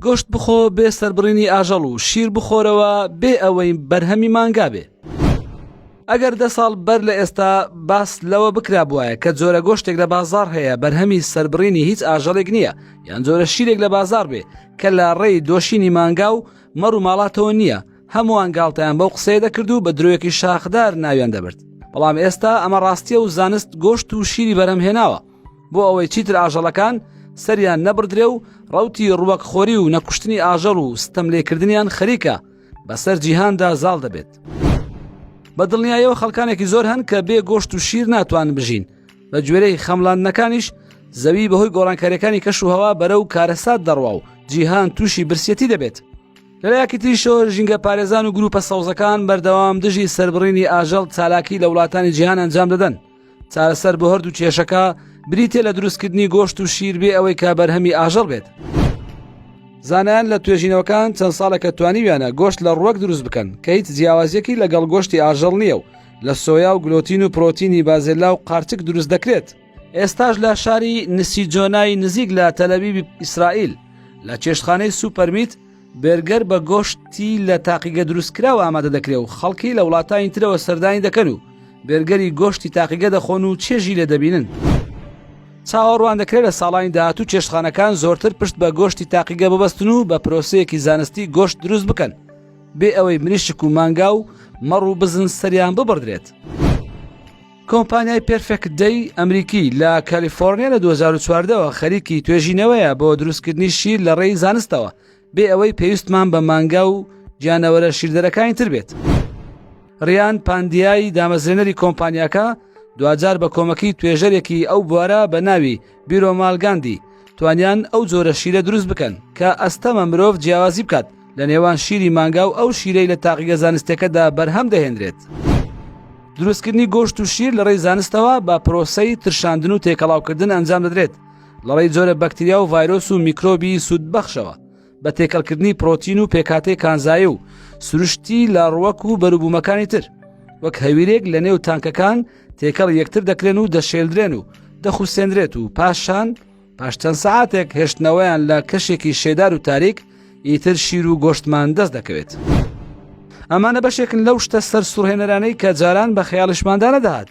گۆشت بخۆ بێ سەربڕینی ئاژەڵ و شیر بخۆرەوە بێ ئەوەی بەرهەمی مانگا بێ. ئەگەر دە ساڵ بەر لە ئێستا باس لەوە بکرابوایە کە جۆرە گۆشتێک لە بازار هەیە بەرهەمی سەربڕینی هیچ ئاژەڵێک نییە یان جۆرە شیرێک لە بازار بێ کە لە ڕێی دۆشینی مانگا و مەڕ و ماڵاتەوە نییە هەمووان گاڵتەیان بەو قسەیە دەکرد و بە درۆیەکی شاخدار ناویان دەبرد بەڵام ئێستا ئەمە ڕاستیە و زانست گۆشت و شیری بەرەم هێناوە بۆ ئەوەی چیتر ئاژەڵەکان سەریان نەبدرێ و ڕوتی ڕوەک خۆری و نەکوشتنی ئاژەڵ و ستەم لێکردنیان خەریکە بەسەر جیهاندا زاڵ دەبێت. بە دڵنیایەوە خەڵکانێکی زۆر هەن کە بێ گۆشت و شیر ناتوان بژین بە گوێرەی خەملاندنەکانیش زەوی بەهۆی گۆڕانکاریەکانی کەش و هەوا بەرە و کارەسات دەڕوا و جیهان تووشی برسیەتی دەبێت. لەلایەکی تریشەوە ژینگە پارێزان و گروپە سەوزەکان بەردەوام دژی سربڕینی ئاژەڵ چالاکی لە وڵاتانی جیهان ئەنجام دەدەن. چارەسەر بۆ هەردوو کێشەکە بریتێ لە دروستکردنی گۆشت و شیر بێ ئەوەی کا بەرهەمی ئاژەڵ بێت. زانایان لە توێژینەوەکان چەند ساڵێکە توانیویانە گۆشت لە ڕوەک دروست بکەن کە هیچ جیاوازیەکی لەگەڵ گۆشتی ئاژەڵ نییە و لە سۆیا و گلۆتین و پرۆتینی بازێلا و قارچک دروست دەکرێت ئێستاش لە شاری نسیجۆنای نزیک لە تەلەبیبی ئیسرائیل لە چێشتخانەی سوپەرمیت بێرگەر بە گۆشتی لە تاقیگە دروستکراو ئامادە دەکرێ و خەڵکی لە وڵاتانی ترەوە سەردانی دەکەن و بێرگەری گۆشتی تاقیگە دەخۆن و چێژی لێ دەبینن. چاوەڕوان دەکرێ لە ساڵانی داهاتوو چێشتخانەکان زۆرتر پشت بە گۆشتی تاقیگە ببەستن و بە پرۆسەیەکی زانستی گۆشت دروست بکەن بێ ئەوەی مریشک و مانگا و مەڕ و بزن سەریان ببڕدرێت. کۆمپانیای پێرفێکت دەی ئەمریکی لە کالیفۆرنیا لە 2014ەوە خەریکی توێژینەوەیە بۆ دروستکردنی شیر لە ڕێی زانستەوە بێ ئەوەی پێویستمان بە مانگا و گیانەوەرە شیردەرەکانی تر بێت ڕیان پاندیایی دامەزرێنەری کۆمپانیاکە دوجار بە کۆمەکی توێژەرێکی ئەو بوارە بە ناوی بیرۆمال گاندی، توانیان ئەو جۆرە شیرە دروست بکەن کە ئەستەمە مرۆڤ جیاوازی بکات لە نێوان شیری مانگا و ئەو شیرەی لە تاقیگە زانستیەکەدا بەرهەم دەهێنرێت. دروستکردنی گۆشت و شیر لەڕێی زانستەوە بە پرۆسەی ترشاندن و تێکەڵاوکردن ئەنجام دەدرێت لەڕێی جۆرە بەکتریا و ڤایرۆس و میکرۆبی سوودبەخشەوە بە تێکەڵکردنی پرۆتین و پێکهاتەی کانزایی و سروشتی لە ڕوەک و بەروبوومەکانی تر وەک هەویرێک لە نێو تانکەکان تێکەڵی یەکتر دەکرێن و دەشێلدرێن و دەخوسێنرێت و پاشان پاش چەند سعاتێک هێشتنەوەیان لە کەشێکی شێدار و تاریک ئیتر شیر و گۆشتمان دەست دەکەوێت. ئەمانە بەشێکن لەو شتە سەر سوڕهێنەرانەی کە جاران بە خەیاڵشماندا نەدەهات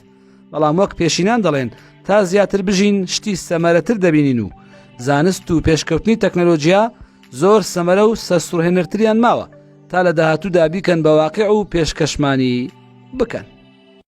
بەڵام وەک پێشینان دەڵێن تا زیاتر بژین شتی سەمەرەتر دەبینین و زانست و پێشکەوتنی تەکنەلۆژیا زۆر سەمەرە و سەرسوڕهێنەرتریان ماوە تا لە داهاتوودا بیکەن بە واقع و پێشکەشمانی بکەن.